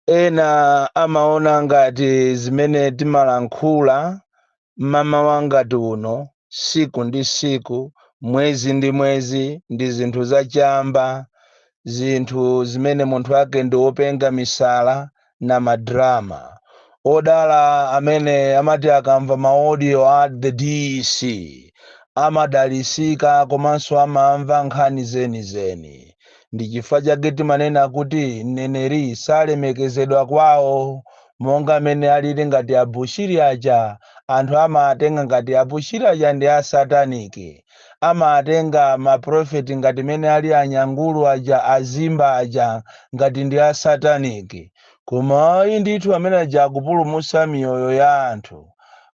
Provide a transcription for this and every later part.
ena amaona ngati zimene timalankhula mmamawa ngati uno siku ndi siku mwezi ndi mwezi ndi zinthu zachamba zinthu zimene munthu wake ndi wopenga misala na ma drama. Odala amene amati akamva ma audio a the DC amadalisika komanso amamva nkhani zeni zeni. Ndi chifukwa chake timanena kuti mneneri salemekezedwa kwawo. Monga amene alili ngati a Bushiri aja, anthu amawatenga ngati a Bushiri aja ndi a satanic. amatenga ma prophet ngati mmene ali anyangulu aja azimba aja ngati ndi a satanic koma ayi ndithu amene aja akupulumutsa miyoyo ya anthu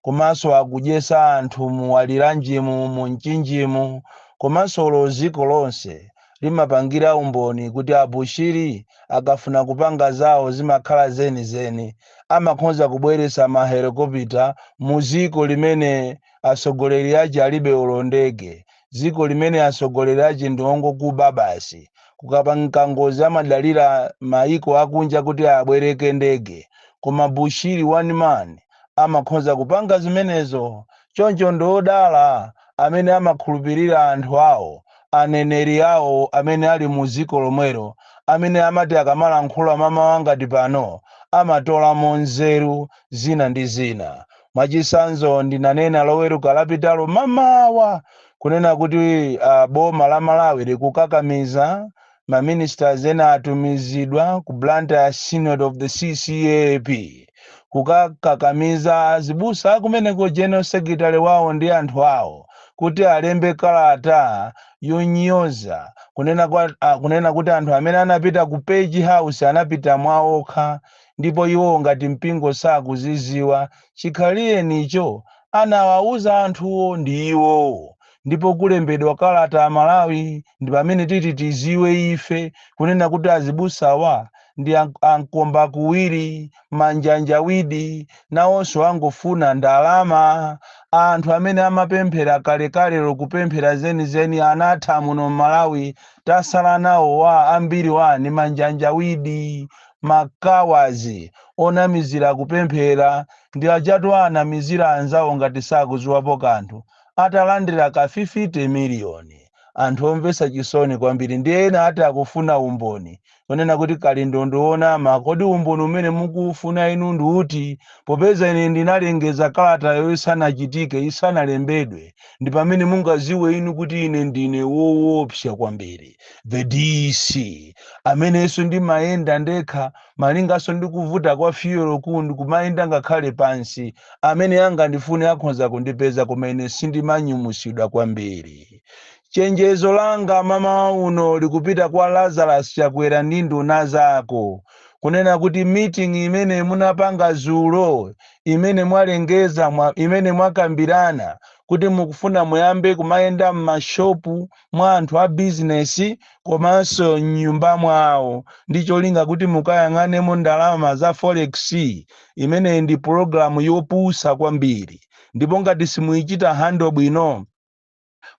komanso akudyesa anthu mu waliranjimu mu mchinjimu komanso lo dziko lonse limapangira umboni kuti a Bushiri akafuna kupanga zawo zimakhala zenizeni amakhonza kubweretsa mahelikopita mu ziko limene Asogoleri ache alibe olo ndege. Ziko limene asogoleri ache ndi ongokuba basi. Kukapanga ngozi amadalira maiko akunja kuti abwereke ndege. Koma Bushiri one man amakhonza kupanga zimenezo. Choncho ndi odala amene amakhulupirira anthu awo, aneneri awo amene ali mu ziko lomwero amene amati akamalankhula mmamawa ngati pano amatolamo nzeru zina ndi zina. Mwachitsanzo, ndinanena Loweruka lapitalo mmamawa kunena kuti uh, boma la Malawi likukakamiza ma ministers ena atumizidwa ku Blantyre Synod of the CCAP kukakakamiza azibusa akumeneko general secretary wawo ndi anthu awo kuti alembe kalata yonyoza kunena kuti anthu amene anapita ku Page House anapita mwaokha ndipo iwo ngati mpingo sakuziziwa chikhalirenicho anawauza anthuwo ndi iwowo ndipo kulembedwa kalata amalawi ndi pamene titi tiziwe ife kunena kuti azibusawa ndi ankomba kuwiri manjanjawidi nawonso angofuna ndalama anthu amene amapemphera kalekalelo kupemphera zenizeni anatha muno m'malawi tasala nawo ambiriwa ndi manjanjawidi ma cowards onamizira kupemphera ndi ajatu anamizira anzawo ngati sakuziwapo kanthu atalandira ka 50 million anthu omvesa chisoni kwambiri ndiye ena ati akufuna umboni onena kuti Kalindo ndi wonama kodi umboni umene mukuufuna inu ndi uti popeza ine ndinalengeza kalatayo isanachitike isanalembedwe ndi pamene mungaziwe inu kuti ine ndine woopsa kwambiri. the dc amenenso ndimayenda ndekha malinganso ndi kuvuta kwa fiyolo kuno ndikumayenda ngakhale pansi amene angandifune akhonza kundipeza koma ine sindimanyumwisidwa kwambiri chenjezo langa mamawa uno likupita kwa lazarus chakwera ndi nduna zako kunena kuti meeting imene munapanga zulo imene mwalengeza mwa, imene mwakambirana kuti mukufuna muyambe kumayenda m'mashopu mwa anthu a bizinesi komanso m'nyumba mwawo ndi cholinga kuti mukayang'anemo ndalama za forex. Imeneyi ndi pulogalamu yopusa kwambiri ndipo ngati simuichita handle bwino,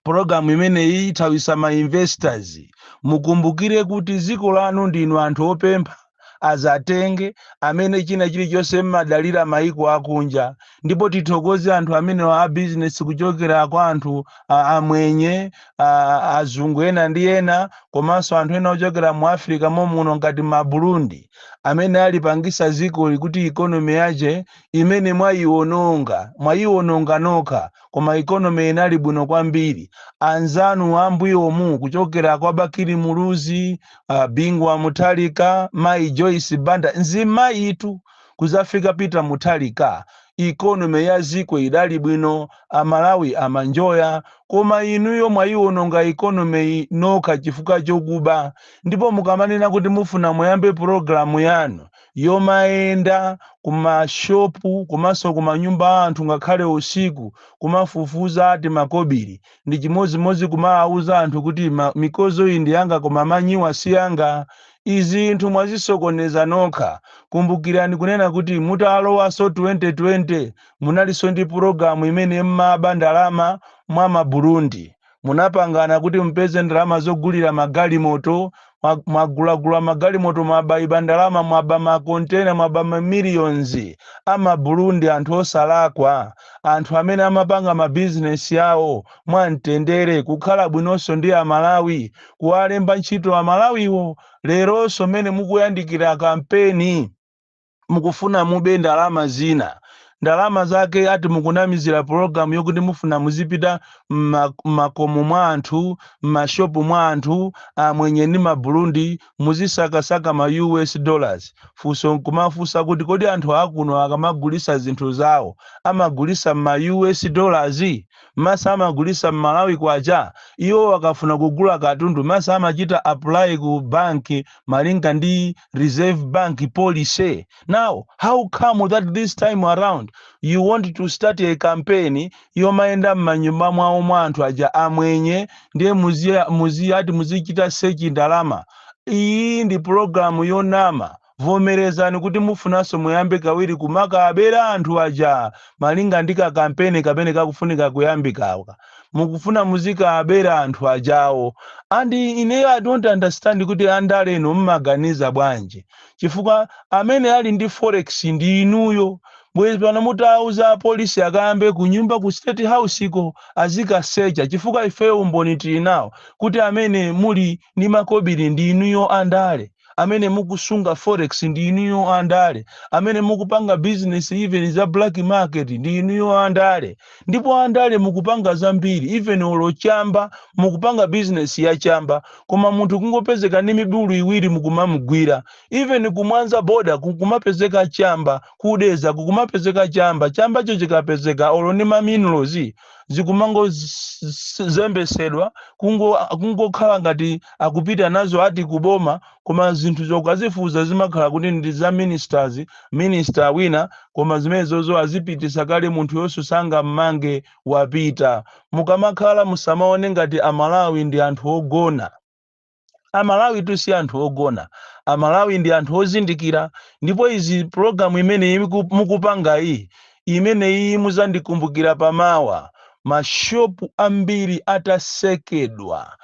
pulogalamu imeneyi ithawisa ma investors. Mukumbukire kuti dziko lanu ndinu anthu opempha. azatenge amene china chilichonse mmadalira maiko akunja ndipo tithokoze anthu amene wa business kuchokera kwa anthu a- amwenye a- azungu ena ndi ena komanso anthu ena ochokera mu africa momuno ngati ma burundi amene alipangisa zikoli kuti ikonomi yake imene mwayiwononga mwayiwononga nokha koma ikonomi inali bwino kwambiri anzanu ambuyomu kuchokera kwa bakili muluzi uh, bingu wa muthalika mayi joyce banda nzimayitu kuzafika peter muthalika ikonomi ya ziko idali bwino amalawi amaenjoya koma inuyo mwayiwononga ikonomi nokha chifukwa chokuba ndipo mukamanena kuti mufuna muyambe pulogalamu yanu yomayenda kumashopu komanso kumanyumba a anthu ngakhale usiku kumafufuza ati makobiri Ndi chimodzimodzi kumawauza anthu kuti ma, mikozo iyi ndi yanga koma manyiwa si yanga. Izi zinthu mwazisokoneza nokha. Kumbukirani kunena kuti mutalowanso 2020 munalinso ndi pulogalamu imene mmaba ndalama mwa ma Burundi. Munapangana kuti mupeze ndalama zogulira magalimoto mwagulagula magalimoto mwabaiba ndalama mwaba makontena mwaba mamillions amaburundi anthu osalakwa anthu amene amapanga mabizinesi awo mwamtendere kukhala bwinonso ndi amalawi kuwalemba ntchito amalawiwo leronso mmene mukuyandikira kampeni mukufuna mube ndalama zina ndalama zake ati mukunamizira program yokuti mufuna muzipita mma- mmakomo mwa anthu mmashopu mwa anthu amwenye ndi maburundi muzisakasaka ma us dollars funso nkumafunsa kuti kodi anthu akuno akamagulisa zinthu zawo amagulisa mma us dollars masa amagulisa mmalawi kwacha iwo akafuna kugula katundu masa amachita apply ku banki malinga ndi Reserve Bank policy. Now, how come that this time around you want to start a campaign yomayenda m'manyumba mwawo mwa anthu aja amwenye ndiye muziya- muziyati muzichita sechi ndalama iyi ndi pulogalamu yonama vomerezani kuti mufunanso muyambe kawiri kumakaabera anthu aja malinga ndi kakampeni kamene kakufunika kuyambikaka mukufuna muzikaabera anthu ajawo and ineyo i don't understand kuti andale inu mmaganiza bwanji chifukwa amene ali ndi forex ndi inuyo bwezi pano mutawauza apolisi akayambe kunyumba ku state house ko azikasecha chifukwa ifeyo umboni tili nawo kuti amene muli ndi makobiri ndi inuyo andale amene mukusunga forex ndi inuyo andale amene mukupanga business even za black market ndi inuyo andale ndipo andale mukupanga zambiri even olo chamba mukupanga business ya chamba koma munthu kungopezeka ndi mibulu iwiri mukumamugwira even kumwanza boda kukumapezeka chamba ku Dedza kukumapezeka chamba chambacho chikapezeka olo ndi maminerals zikumangozembetsedwa kungokhala ngati akupita nazo ati ku boma koma zinthu ukazifunsa zimakhala kuti ndi za ministers minister wina koma zimenezozo azipitisa kale munthuyonso sangammange wapita mukamakhala musamaone ngati amalawi ndi anthu ogona amalawi tu si anthu ogona amalawi ndi anthu ozindikira ndipo izi pulogalamu imeneyi muku- mukupangayi imeneyi muzandikumbukira pamawa mashopu ambiri atasekedwa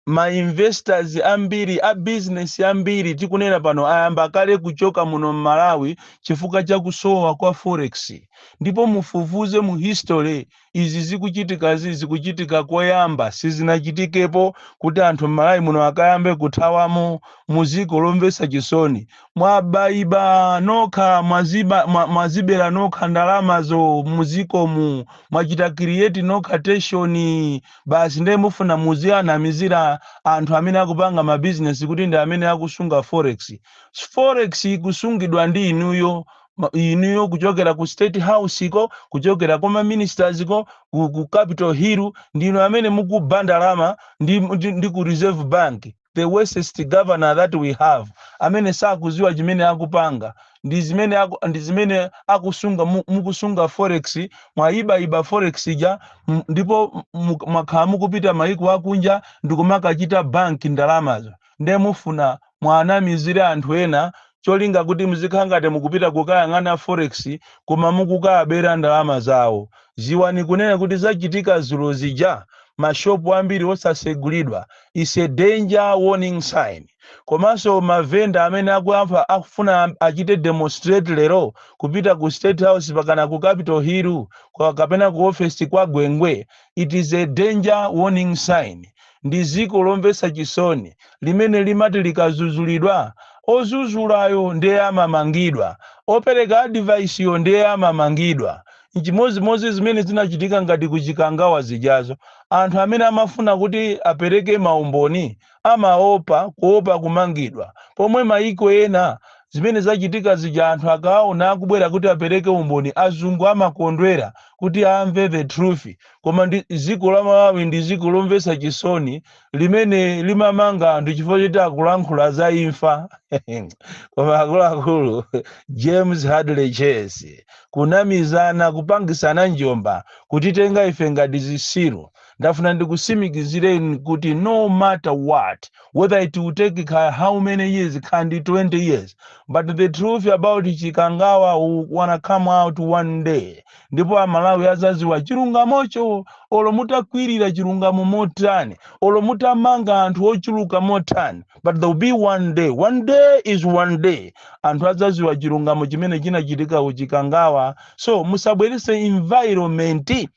ma investors ambiri a business ambiri tikunena pano ayamba kale kuchoka muno mmalawi chifukwa cha kusowa kwa forex ndipo mufufuze mu history izi zikuchitikazi zikuchitika koyamba sizinachitikepo kuti anthu m'malawi muno akayambe kuthawamo mudziko zomvetsa chisoni mwabayiba nokha mwaziba, mwa, mwazibera nokha ndalamazo mudzikomu mwachita kiriyeti nokha teshoni basi ndiye mufuna muziwanamizira anthu amene akupanga mabizinesi kuti ndi amene akusunga forex forex ikusungidwa ndi inuyo ma- inuyo kuchokera ku state house ko kuchokera kwa maministers ko ku, ku capital hill ndinu amene mukuba ndalama ndi, ndi, ndi ku reserve bank the worstest governor that we have amene sakudziwa chimene akupanga ndi zimene aku, ndi zimene akusunga mu- mukusunga forex mwayibayiba forex ija m- ndipo mu- mwakhala mukupita mayiko akunja ndikumakachita bank ndalamazo nde mufuna muanamizire anthu ena cholinga kuti mzikhala ngati mukupita kukayang'ana forex koma mukukaabera ndalama zawo. Ziwani kunena kuti zachitika zulo zija ma shop ambiri osasegulidwa is a danger warning sign. Komanso mavenda amene akuyankhula akufuna achite demonstrate lero kupita ku state house mpakana ku capital hillu kapena ku office kwa Gwengwe It is a danger warning sign. Ndi dziko lomvetsa chisoni limene limati likadzudzulidwa, odzudzulayo ndiye amamangidwa, opereka advice-yo ndiye amamangidwa. N'chimodzimodzi zimene zinachitika ngati ku Chikangawa zijazo. Anthu amene amafuna kuti apereke maumboni amaopa kuopa kumangidwa pomwe maiko ena zimene zachitika zija anthu akawaona akubwera kuti apereke umboni azungu amakondwera kuti amve the truth koma dziko la malawi ndi dziko lomvetsa chisoni limene limamanga anthu chifukwa choti akulankhula za imfa koma akuluakulu james hadley chase kunamizana kupangisana njomba kutitenga ife ngati zisiru ndafuna ndikusimikizireni kuti no matter what whether it will take ka how many years kaya ndi 20 years but the truth about chikangawa will wanna come out one day ndipo amalawi azaziwa chilungamocho olo mutakwirira chilungamo motani olo mutamanga anthu ochuluka motani but there will be one day one day is one day anthu azaziwa chilungamo chimene chinachitika ku chikangawa so musabwerese environment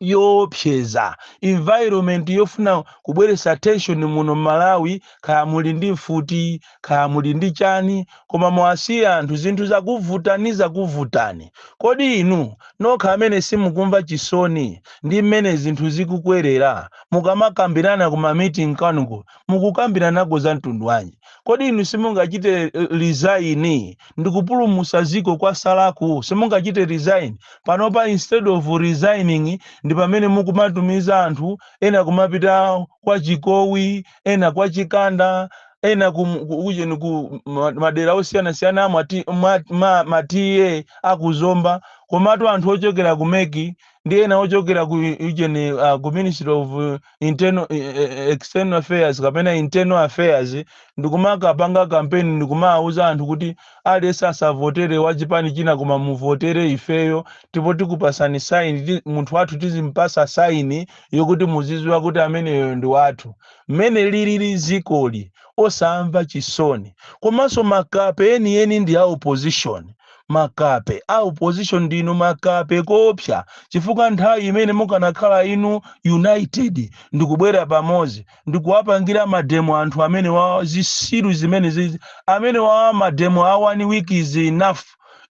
yoopseza environment yofuna kubweretsa tension muno mMalawi kaya muli ndi mfuti kaya muli ndi chani koma muwasiye anthu zinthu zakuvutani zakuvutani kodi inu nokha amene simukumva chisoni ndi mmene zinthu zikukwerera mukamakambirana ku ma meeting kwanuko mukukambiranako za mtundu wanji kodi inu simungachite resign ndikupulumusa ziko kwasalaku? simungachite resign panopa instead of resigning ndipamene mukumatumiza anthu ena kumapita kwa chikowi ena kwa chikanda ena ku, ku, ujeni ku ma- madera osiyanasiyana amwa ti- mwa- ma- ma TA akuzomba komatu anthu ochokera ku MEC ndi ena ochokera ku region uh, ku ministry of uh, internal eh, eh, eh, external affairs kapena internal affairs ndikumakapanga kampeni ndikumawuza anthu kuti aliyense asavotere wa chipani china koma muvotere ifeyo ndipo tikupasani saini ti- munthu wathu tizimpasa saini yokuti muziziwa kuti ameneyo ndi wathu mmene lilili zikoli osamva chisoni komanso makape enieni ndi a opposition makape a opposition ndinu makape koopsa chifukwa nthawi imene mukanakhala inu united ndikubwera pamodzi ndikuwapangira mademo anthu amenewawa zitsiru zimenezizi amenewawa mademo a one week is enough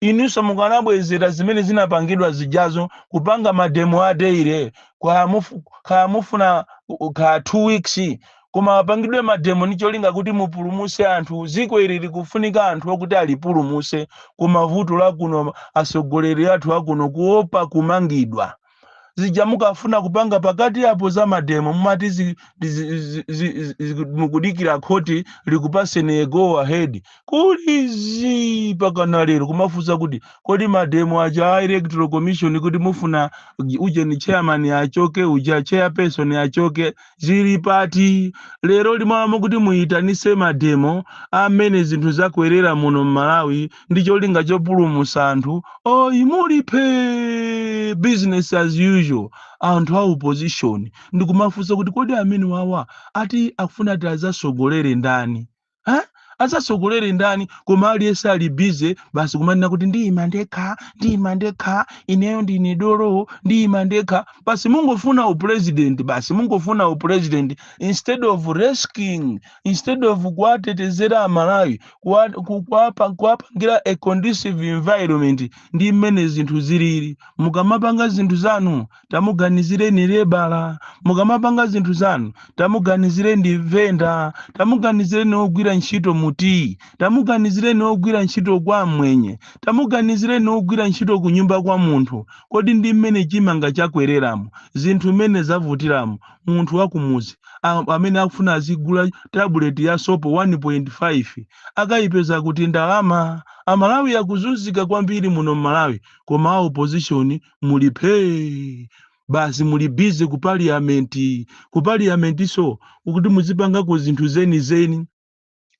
inunso mukanabwezera zimene zinapangidwa zijazo kupanga mademo a daily kaya mufuna kaya two weeks koma apangidwe mademo ndi cholinga kuti mupulumuse anthu ziko ili likufunika anthu okuti alipulumuse koma vuto lakuno asogoleri athu akuno kuopa kumangidwa zija mukafuna kupanga pakati apo za mademo mumati zi- zi- zi- zi- zi- mukudikira khoti likupaseni go ahead kuli zii mpakana lero kumafunsa kuti kodi mademo aja a electoral commission kuti mufuna ujeni chairman achoke uja chairperson achoke zili pati lero lino mmalo mokuti muyitanise mademo amene zinthu zakwerera muno mmalawi ndi cholinga chopulumusa anthu oyi muli phee business as usual anthu a opposition ndikumafunsa kuti kodi amenewawa ati akufuna ati azasogolere ndani ha? azatsogolere ndani koma aliyense ali busy basi kumanena kuti ndiyima ndekha ndiyima ndekha ineyo ndine dolo ndiyima ndekha basi mungofuna upresident basi mungofuna upresident instead of rescuing instead of kuwatetezera amalawi kuwa- ku- kuwapa- kuwapangira a conducive environment ndi mmene zinthu zilili mukamapanga zinthu zanu tamuganizireni lebala mukamapanga zinthu zanu tamuganizireni venda tamuganizireni ogwira ntchito mu tea tamuganizireni ogwira ntchito kwa amwenye tamuganizireni ogwira ntchito ku nyumba kwa munthu kodi ndi mmene chimanga chakwereramo zinthu mmene zavutiramo munthu wakumuzi a- amene akufuna azigula tabuleti ya sopo 1.5 akayipeza kuti ndalama amalawi akuzunzika kwambiri muno mmalawi koma a opposition muli phee basi muli busy ku parliament ku parliamentso kuti muzipangako zinthu zenizeni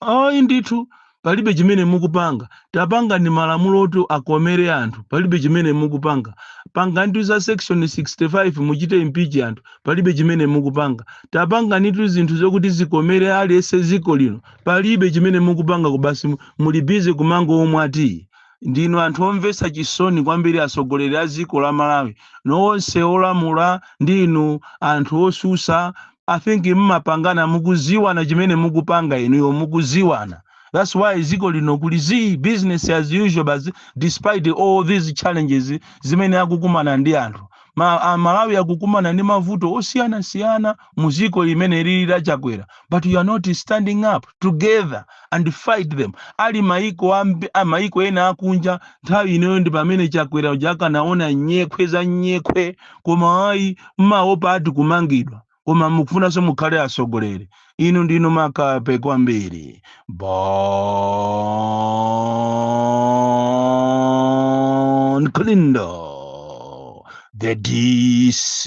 ayi ndithu palibe chimene mukupanga tapangani malamulo oti akomere anthu palibe chimene mukupanga panganitu za section 65 muchite impeach anthu palibe chimene mukupanga tapanganitu zinthu zokuti zikomere aliyense ziko lino palibe chimene mukupanga basi muli busy kumangomwa tea Ndinu anthu omvesa chisoni kwambiri asogoleri a ziko la Malawi nonse olamula ndi inu anthu osusa I think mmapangana mukuziwana chimene mukupanga inuyo mukuziwana that's why ziko lino kuli zii business as usual basi despite all these challenges zimene akukumana ndi anthu Ma, a Malawi akukumana ndi mavuto osiyanasiyana muziko limene likulira chakwera but you are not standing up together and fight them ali maiko ambiri maiko ena akunja nthawi inoyi ndi pamene chakwera uja akanaona nyekhwe za nyekhwe koma ayi mmaopa ati kumangidwa koma mukufunanso mukhale atsogoleri inu ndinu makape kwambiri bon kalindo the dc